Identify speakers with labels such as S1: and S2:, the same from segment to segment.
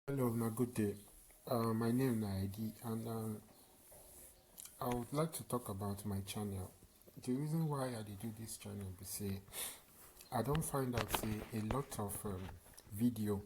S1: Hello, na good day. Uh, my name na Edi, and um, I would like to talk about my channel. The reason why I dey do this channel be say I don find out say a lot of um, video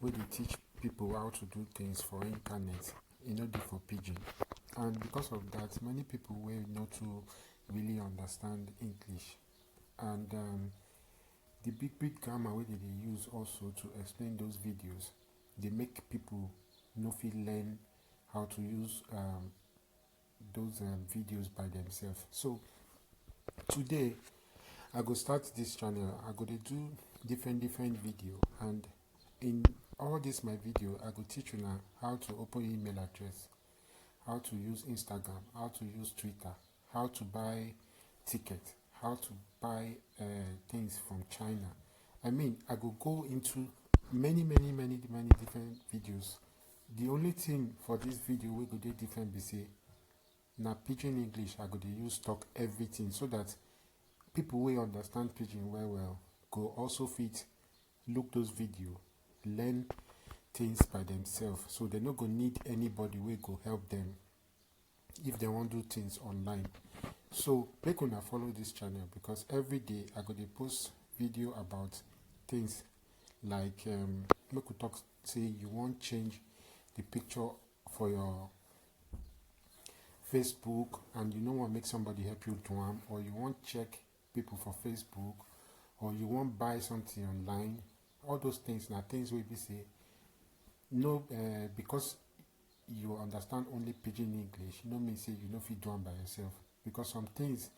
S1: wey dey teach people how to do things for internet e no dey for pidgin, and because of that, many people wey no too really understand English, and um, The big big grammar wey dem dey use also to explain those videos dey make people no fit learn how to use um, those um, videos by themselves. So today I go start this channel. I go dey do different different video and in all this my video I go teach you now how to open email address, how to use Instagram, how to use Twitter, how to buy ticket how to buy uh, things from china i mean i go go into many many many many different videos the only thing for this video we go dey different be say na pidgin english i go dey use talk everything so that people wey understand pidgin well well go also fit look those video learn things by themselves so they no go need anybody wey go help them if they wan do things online so make una follow this channel because every day i go dey post video about things like um, make we talk say you wan change the picture for your facebook and you no wan make somebody help you do am or you wan check people for facebook or you wan buy something online all those things na things wey be say no uh, because you understand only pidgin english no mean say you no fit do am by yourself because some things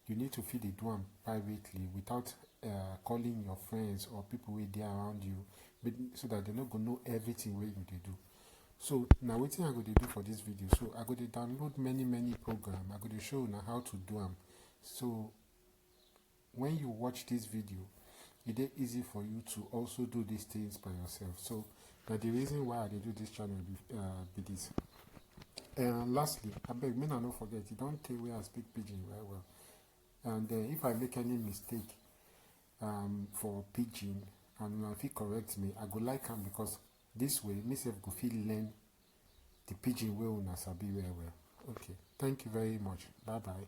S1: you need to fit dey do am privately without uh, calling your friends or people wey dey around you but so that they no go know everything wey you dey do so na wetin i go dey do for this video so i go dey download many many program i go dey show una how to do am so when you watch this video it is easy for you to also do these things by yourself so that the reason why i do this channel be, uh, be this and lastly i beg me no forget you don't tell where i speak pidgin very well and uh, if i make any mistake um, for pidgin and if you correct me i go like him because this way myself go feel learn the pidgin way una sabi very well okay thank you very much bye bye